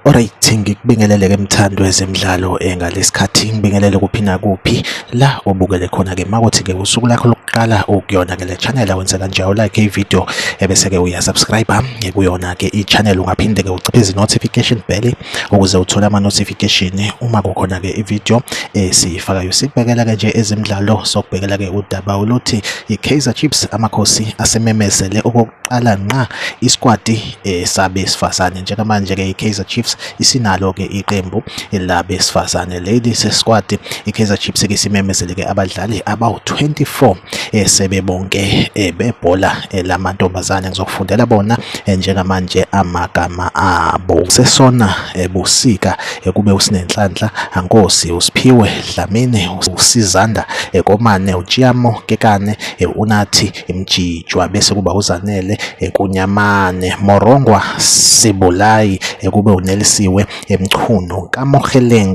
Alright ngikubingelele ke mthando wezemidlalo engalesikhathi ngibingelele kuphi nakuphi la obukele khona ke makuthi ke usuku lakho lokuqala ukuyona ke le channel awenze kanje u like i video ebese ke uya subscribe kuyona ke i channel ungaphinde ke uciphe izi notification bell ukuze uthole ama notification uma kukhona ke ivideo esiyifakayo sibhekela ke nje ezimidlalo sokubhekela ke udaba oluthi iKaizer Chiefs amakhosi asememezele okokuqala nqa isquadi sabesifazane njengamanje ke iKaizer Chiefs isinalo ke iqembu labesifazane leli sesquadi iKaizer Chiefs ke simemezele ke abadlali abawu 24 eh, sebebonke eh, bebhola eh, lamantombazane ngizokufundela bona eh, njengamanje amagama abo sesona eh, busika eh, kube usinenhlanhla ankosi usiphiwe dlamini usizanda eh, komane utshiamo kekane eh, unathi imjijwa bese kuba uzanele eh, kunyamane morongwa sibulayi eh, kube unelisiwe eMchunu, kaMokgeleng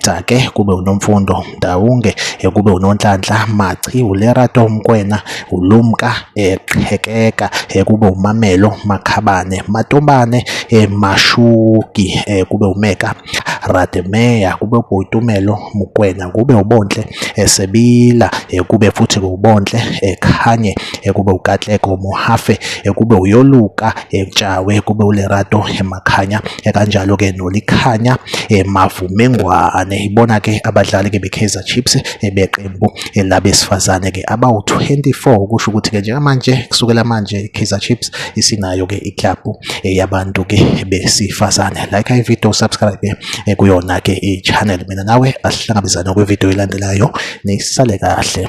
Jake kube uNomfundo Ndawunge kube uNonhlanhla Machi, uLerato Mokwena, uLumka Qhekeka kube uMamelo Makhabane, Matombane Mashuki kube uMeka Rademeya, kube uBoitumelo Mokwena, kube uBontle Sebila kube futhi uBontle Khanye kube uKatlego Mohafe kube uYoluka eMtshawe kube uLerato eMakhanya kanjalo ke noLikhanya eMavumengwane ibona ke abadlali ke beKaizer Chiefs ebeqembu labesifazane ke abawu-24 ukusho ukuthi ke njengamanje kusukela manje iKaizer Chiefs isinayo ke iklabhu yabantu ke besifazane like ivideo subscribe eh, kuyona ke ichannel mina nawe asihlangabezane kwivideo elandelayo nisale kahle